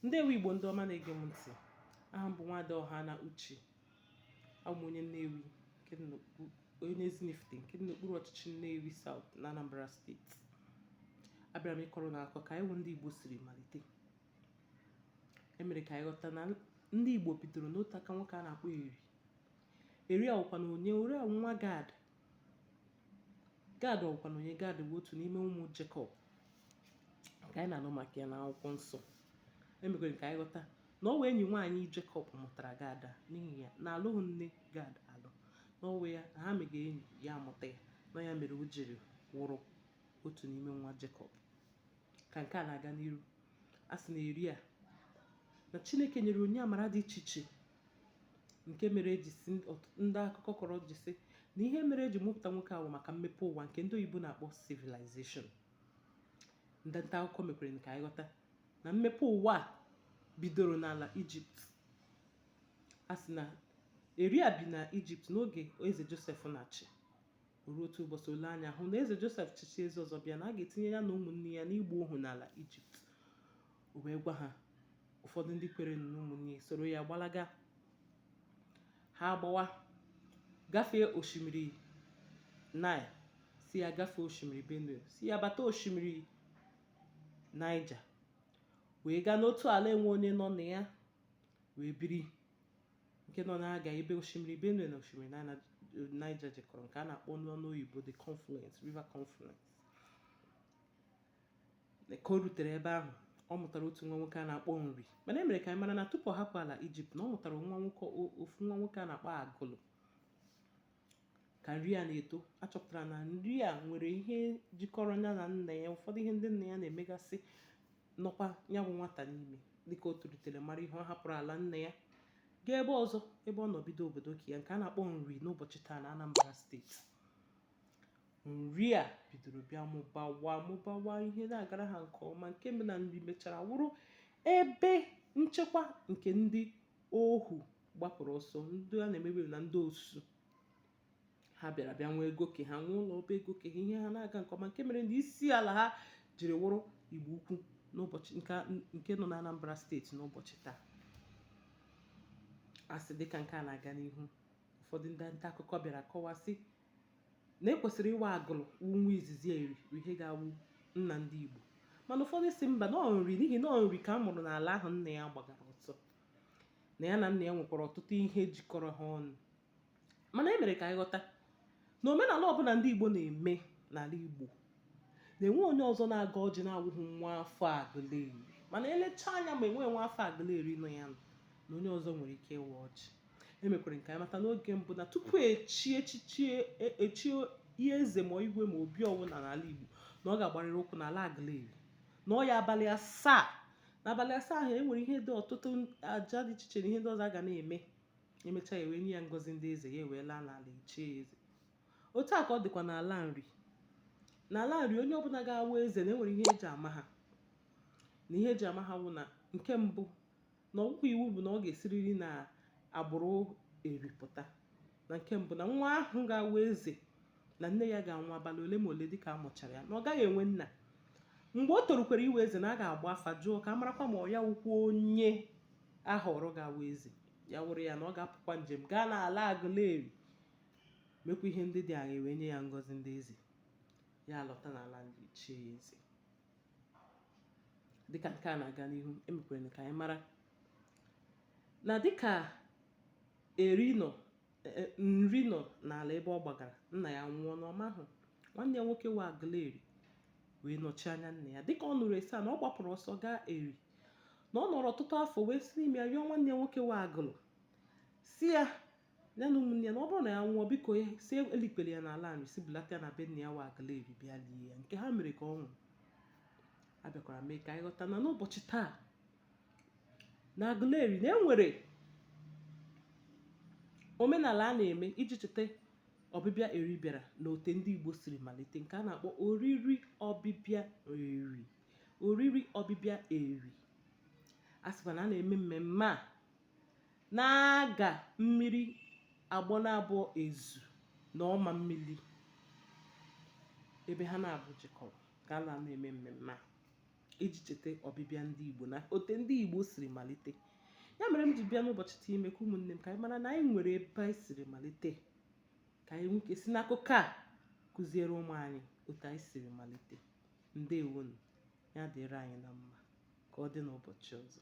ndewo igbo ndị ọma na-ege m ntị aha m bụ nwada ọha na uche abụ m onye nnewi onye ezinifite nke dị n'okpuru ọchịchị nnewi saut na anambra steeti abịara m ịkọrọ unu akụkọ ka anyị wụ ndị igbo siri malite e mere ka anyị ghọta na ndị igbo bidoro n'otu aka nwoke a na-akpọ eri eri a wụkwanụ onye eri a wụ nwa gad Gad ọ̀ wụ̀kwànụ̀ onye? Gad bụ̀ otù n'ime ụmụ̀ Jekọb ǹkè ànyị nà-ànụ màkà ya n'akwụkwọ nsọ̄. E mèkwèrè kà ànyị ghọta nà ọ wụ̀ enyì nwaànyị Jekọb mụ̀tàrà Gad à n'ihì ya nà àlụghụ̄ nne Gad àlụ, nà ọ wụ̄ ya nà ha mègè enyì ya àmụ̀ta yā, nà ọ ya mèrè o jìrì wụrụ otù n'ime nwa Jekọb. Kà ǹke à nà-àga n'iru, a sị̀ nà Èri à nà Chinēkè nyèrè ònyìnye àmàra dị ichè ichè. nke mere e ji sị ndị akụkọ kọrọ ji sị na ihe mere e ji mụpụta nwoke ahụ maka mmepe ụwa nke ndị oyibo na-akpọ civilization ndị nta akụkọ mekwere ka anyị ghọta na mmepe ụwa bidoro n'ala ijipt a sị na eri a bi na ijipt n'oge eze josef na-achị ruo otu ụbọchị o lee anya hụ na eze josef chịchaa eze ọzọ bịa na a ga-etinye ya na ụmụnne ya n'igbu ohu n'ala ijipt o wee gwa ha ụfọdụ ndị kwere na ụmụnne soro ya gbalaga ha agbawa gafee osimiri nile si ya gafee osimiri benue si ya bata osimiri niger wee gaa n'otu ala enwe onye nọ na ya wee biri nke nọ na nga ebe osimiri benue na osimiri niger jikọrọ nke a na-akpọ n'ọnụ oyibo the confluence river confluence ka o rutere ebe ahụ ọ mụtara otu nwa nwoke a na-akpọ nri mana e mere ka anyị mara na tupu ọ hapụ ala ijipt na ọ mụtara nwa nwoke ofu nwa nwoke a na-akpọ agụlụ ka nri a na-eto a chọpụtara na nri a nwere ihe jikọrọ ya na nna ya ụfọdụ ihe ndị nna ya na-emegasị nọkwa ya bụ nwata n'ime dịka o tolitere mara ihe ọ hapụrụ ala nna ya gaa ebe ọzọ ebe ọ nọ bido obodo ke ya nke a na-akpọ nri n'ụbọchị taa na Anambra steeti nri a bidoro bịa mụbawa mụbawa ihe na-agara ha nke ọma nke mere na nri mechara wụrụ ebe nchekwa nke ndị ohu gbapụrụ ọsọ ndị a na-emebe na ndị osu ha bịara bịa nwee ego ke ha nwee ụlọ ọba ego ke ha ihe ha na-aga nke ọma nke mere na isi ala ha jiri wụrụ igbo ukwu n'ụbọchị nke nọ na anambra steeti n'ụbọchị taa a sị dịka nke a na-aga n'ihu ụfọdụ ndị nta akụkọ bịara kọwasị na e kwesịrị ịwụ agụlụ nwa izizi eri bụ ihe ga-awụ nna ndị Igbo mana ụfọdụ sị mba na ọ nri n'ihi na ọ nri ka a mụrụ n'ala ahụ nna ya gbagara ọsọ na ya na nna ya nwekwara ọtụtụ ihe jikọrọ ha ọnụ mana e mere ka anyị ghọta na omenala ọbụla ndị Igbo na-eme n'ala Igbo na enweghị onye ọzọ na-agọ ọjị na-awụghị nwa afọ Aguleri mana elecha anya ma enwe nwa afọ Aguleri nọ ya nọ na onye ọzọ nwere ike ịwa ọjị e mekwara ka anyị mata n'oge mbụ na tupu echi echichi echie eze ma igwe ma obi ọwụna n'ala Igbo na ọ ga-agbarịrị ụkwụ n'ala Aguleri nọọ ya abalị asaa n'abalị asaa ahụ e nwere ihe dị ọtụtụ aja dị iche iche na ihe ndị ọzọ a ga na-eme emechaa ya wee nye ya ngọzi ndị eze ya wee laa n'ala e chie eze otu a ka ọ dịkwa n'ala Nri n'ala Nri onye ọbụla ga-awụ eze na enwere ihe eji ama ha na ihe eji ama ha wụ na nke mbụ na ọ wụkwa iwu bụ na ọ ga-esiriri n'agbụrụ Eri pụta na nke mbụ na nwa ahụ ga-awụ eze na nne ya ga-anwụ abalị ole ma ole dị ka a mụchara ya na ọ gaghị enwe nna mgbe o torukwara ịwụ eze na a ga-agba afa jụọ ka a marakwa ma ọ ya wụkwa onye a họrọ ga-awụ eze ya wụrụ ya na ọ ga-apụkwa njem gaa n'ala Agụleri mekwa ihe ndị dị aṅaa e wee nye ya ngọzi ndị eze, ya alọta n'ala Nri e chie ya eze. Dị ka nke a na-aga n'ihu, e mekwara ka anyị mara na dị ka Eri nọ e, e, Nri nọ n'ala ebe ọ gbagara, nna ya nwụọ n'ọma ahụ, nwanne ya nwoke wụ Agụlụ Eri wee nọchie anya nna ya. Dị ka ọ nụrụ a sị na ọ gbapụrụ ọsọ gaa Eri na ọ nọrọ ọtụtụ afọ wee si n'ime ya rịọ nwanne ya nwoke wụ Agụlụ sị ya Na ụmụnne ya na ọ bụrụ na ya nwụọ biko ya sị elikwala ya n'ala Nri sị bulata ya na be nna ya wụ Agụleri bịa lie ya nke ha mere ka ọ nwụrụ a bịakwara mee ka anyị ghọta na n'ụbọchị taa na Agụleri na enwere omenala a na-eme iji cheta ọbịbịa Eri bịara na ote ndị Igbo siri malite nke a na-akpọ oriri ọbịbịa Eri oriri ọbịbịa Eri a sịkwa na a na-eme mmemme a N'aga mmiri Agbanabọ Ezu na Ọma mmiri ebe ha naabọ jikọrọ ka a na-anọ eme mmemme a iji cheta ọbịbịa ndị Igbo na ote ndị Igbo siri malite ya mere m ji bịa n'ụbọchị taa ime ka ụmụnne m ka anyị mara na anyị nwere ebe anyị siri malite ka anyị nwee ike si n'akụkọ a kụziere ụmụ anyị otu anyị siri malite ndewonu ya dịrị anyị na mma ka ọ dị n'ụbọchị ọzọ